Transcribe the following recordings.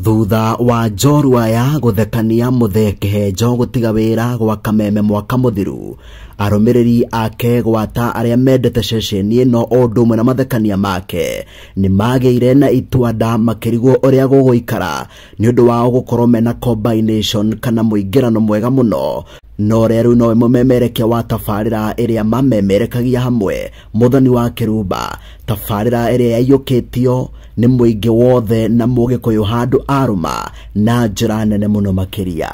thutha wa njorua ya gũthekania mũthee kĩhenjo gũtiga wĩra gwa kameme mwaka mũthiru arũmĩrĩri ake gwata arĩa mendete ceceni ĩno o ũndũ ũmwe na mathekania make nĩ magĩire na itua nda makĩrigwo ũrĩa gũgũikara nĩ ũndũ wao gũkorwo mena combination kana mũingĩrano mwega mũno no rĩu nowe mũmemerekia wa tabarĩra ĩrĩa mamemerekagia hamwe mũthoni wa kĩrumba tabarĩra ĩrĩa yaiyũkĩtio nĩ mũingĩ wothe na mũgĩkũyũ handũ arũma na njĩra nene mũno makĩria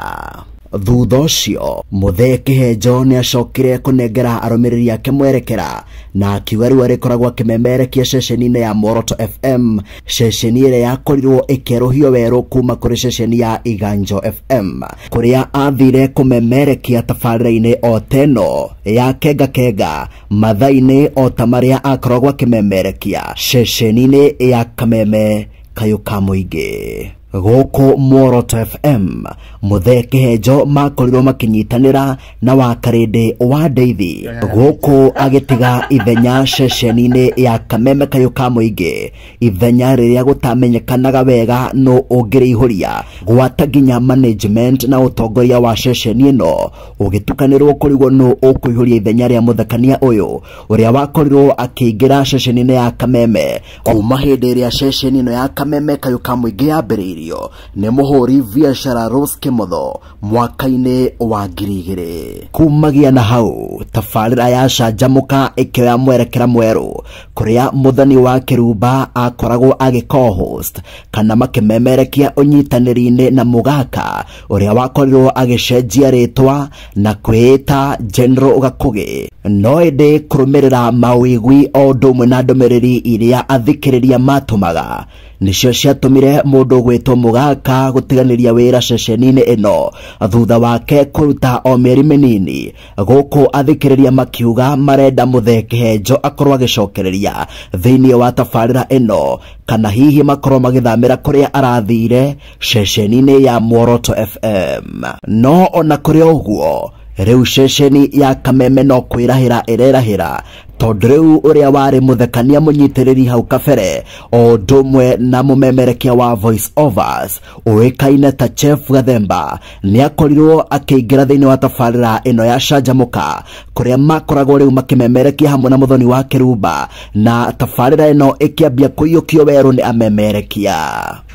thutha ũcio mũthee kĩhenjo nĩ acokire kũnengera arũmĩrĩri ake mwerekera na akiuga rĩu arĩkoragwo akĩmemerekia ceceni-inĩ ya moroto fm ceceni ĩrĩa yakorirwo ĩkĩerũhio werũ kuma kũrĩ ceceni ya iganjo fm kũrĩa athire kũmemerekia tabarĩra-inĩ o teno ya kenga kenga mathainĩ o ta marĩa akoragwo akĩmemerekia ceceni-inĩ ya kameme kayũ ka mũingĩ gũkũ Muoroto FM mũthee kĩhenjo makorirwo makĩnyitanĩra na wakarĩndĩ wa ndeithi gũkũ agĩtiga ithenya ceceni-inĩ ya kameme kayũ ka mũingĩ ithenya rĩrĩa gũtamenyekanaga wega nũ ũngĩrĩihũria gwata nginya management na ũtongoria wa ceceni ĩno ũgĩtukanĩrwo kũrigwo nũ ũkũihũria ithenya rĩa mũthekania ũyũ ũrĩa wakorirwo akĩingĩra ceceni-inĩ ya kameme kuma hĩndĩ ĩrĩa ceceni ĩno ya kameme kayũ ka mũingĩ yambĩrĩirio nĩ mũhũri biacara Rose Kĩmotho mwaka-inĩ wa ngiri igĩrĩ kumagia na hau tabarĩra ya canjamũka ĩkĩoya mwerekera mwerũ kũrĩa mũthani wa kĩrumba akoragwo agĩko host kana makĩmemerekia ũnyitanĩri-inĩ na mũgaka ũrĩa wakorirwo agĩcenjia rĩtwa na kwĩĩta General Gakũgĩ no ĩndĩ kũrũmĩrĩra mawĩgwi o ũndũ ũmwe na ndũmĩrĩri iria athikĩrĩria matũmaga nĩcio ciatũmire mũndũ gwĩtwo mũgaka gũtiganĩria wĩra ceceni-inĩ ĩno thutha wake kũruta o mĩeri mĩnini gũkũ athikĩrĩria makiuga marenda mũthee kĩhenjo akorwo agĩcokereria thĩinĩ wa tabarĩra ĩno kana hihi makorwo magĩthamĩra kũrĩa arathire ceceni-inĩ ya Mworoto FM. No ona kũrĩ o ũguo rĩu ceceni ya Kameme no kwĩrahĩra ĩrerahĩra tondũ rĩu ũrĩa warĩ mũthekania mũnyitĩrĩri hau kabere o ũndũ ũmwe na mũmemerekia wa voice overs ũĩkaine ta Chef Gathemba nĩakorirwo akĩingĩra thĩinĩ wa tabarĩra ĩno ya Canjamũka kũrĩa makoragwo rĩu makĩmemerekia hamwe na mũthoni wa Kĩrumba na tabarĩra ĩno ĩkĩambia kũiyũkio werũ nĩ amemerekia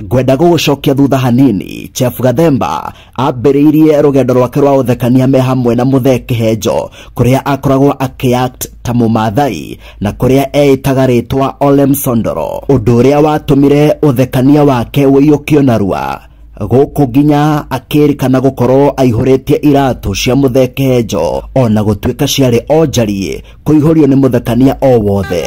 ngwenda gũgũcokia thutha hanini chef gathemba ambĩrĩirie rũgendo rwake rwa ũthekania me hamwe na mũthee kĩhenjo kũrĩa akoragwo akĩact ta mũmathai na kũrĩa eĩtaga rĩtwa ole msondoro ũndũ ũrĩa watũmire ũthekania wake ũiyũkio narua gũkũ nginya akĩrĩkana gũkorwo aihũrĩtie iratũ cia mũthee kĩhenjo ona gũtuĩka ciarĩ onjariĩ kũihũrio nĩ mũthekania o wothe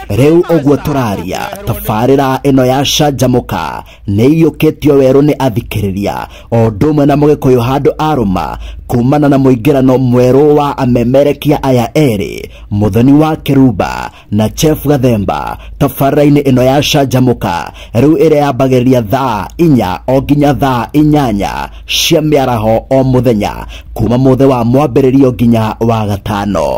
rĩu ũguo tũraria tabarĩra ĩno ya canjamũka nĩ iyũkĩtio werũ nĩ athikĩrĩria o ũndũ ũmwe na mũgĩkũyũ handũ arũma kumana na mũingĩrano mwerũ wa amemerekia aya erĩ mũthoni wa kĩrumba na chef gathemba tabarĩra-inĩ ĩno ya canjamũka rĩu ĩrĩa yambagĩrĩria thaa inya o nginya thaa inyanya cia mĩaraho o mũthenya kuma mũthĩ wa mwambĩrĩrio nginya wa gatano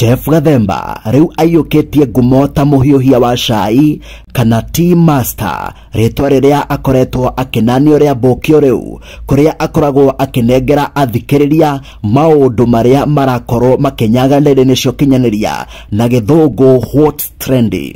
Jeff Gathemba rĩu aiyũkĩtie ngumo ta mũhiũhia wa cai kana tea master rĩtwa rĩrĩa akoretwo akĩnanio rĩa mbũkio rĩu kũrĩa akoragwo akĩnengera athikĩrĩria maũndũ marĩa marakorwo makĩnyaga nĩrĩ nĩcio kinyanĩria na gĩthũngũ what's trending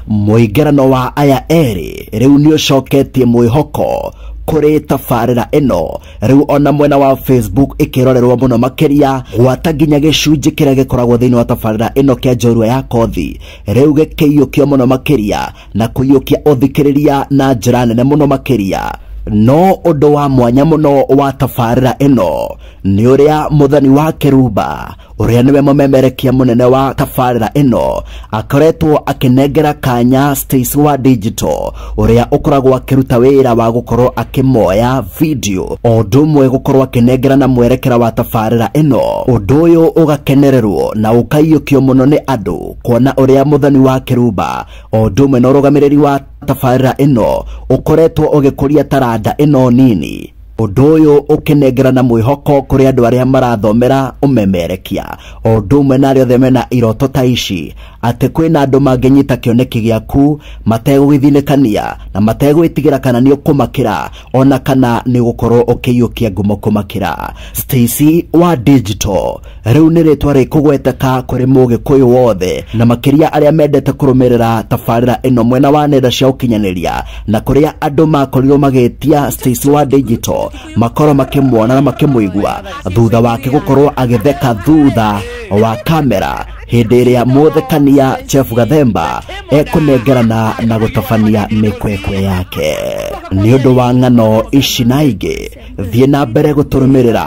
mũingĩrano wa aya erĩ rĩu nĩ ũcoketie mwĩhoko kũrĩ tabarĩra ĩno rĩu ona mwena wa facebook ĩkĩrorerwo mũno makĩria gwata nginya gĩcunjĩ kĩrĩa gĩkoragwo thĩinĩ wa tabarĩra ĩno kĩa njorua ya kothi rĩu gĩkĩiyũkio mũno makĩria na kũiyũkia ũthikĩrĩria na njĩra nene mũno makĩria no ũndũ wa mwanya mũno wa tabarĩra ĩno nĩ ũrĩa mũthani wa kĩrumba ũrĩa nĩwe mũmemerekia mũnene wa tabarĩra ĩno akoretwo akĩnengera kanya Stacy wa Digital ũrĩa ũkoragwo akĩruta wĩra wa gũkorwo akĩmoya video o ũndũ ũmwe gũkorwo akĩnengera na mwerekera wa tabarĩra ĩno ũndũ ũyũ ũgakenererwo na ũkaiyũkio mũno nĩ andũ kuona ũrĩa mũthoni wa kĩrumba o ũndũ ũmwe na ũrũgamĩrĩri wa tabarĩra ĩno ũkoretwo ũgĩkũria taranda ĩno nini ũndũ ũyũ ũkĩnengerana mwĩhoko kũrĩ andũ arĩa marathomera ũmemerekia o ũndũ ũmwe na arĩa othe mena iroto ta ici atĩ kwĩna andũ mangĩnyita kĩoneki gĩaku mategũgĩthinĩkania na mategwĩtigĩra kana nĩ ũkũmakĩra ona kana nĩ ũgũkorwo ũkĩiyũkia ngumo kũmakĩra Stacy wa Digital rĩu nĩ rĩtwa rĩkũgweteka kũrĩ mũgĩkũyũ wothe na makĩria arĩa mendete kũrũmĩrĩra tabarĩra ĩno mwena wa nenda cia ũkinyanĩria na kũrĩa andũ makorirwo magĩtia Stacy wa Digital makorwo makĩmuona na makĩmũigua thutha wake gũkorwo agĩtheka thutha wa kamera hĩndĩ ĩrĩa mũthekania Chef Gathemba ekũnengerana na gũtabania mĩkwekwe yake nĩ ũndũ wa ng'ano ici na ingĩ thiĩ na mbere gũtũrũmĩrĩra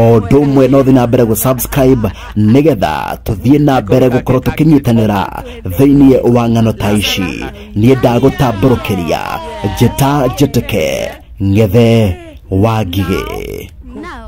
o ũndũ ũmwe no thiĩ na mbere gũ subscribe nĩgetha tũthiĩ na mbere gũkorwo tũkĩnyitanĩra thĩinĩ wa ng'ano ta ici niĩ ndagũtambũrũkĩria njĩta njĩtĩke ngethe wa ngigĩ Now,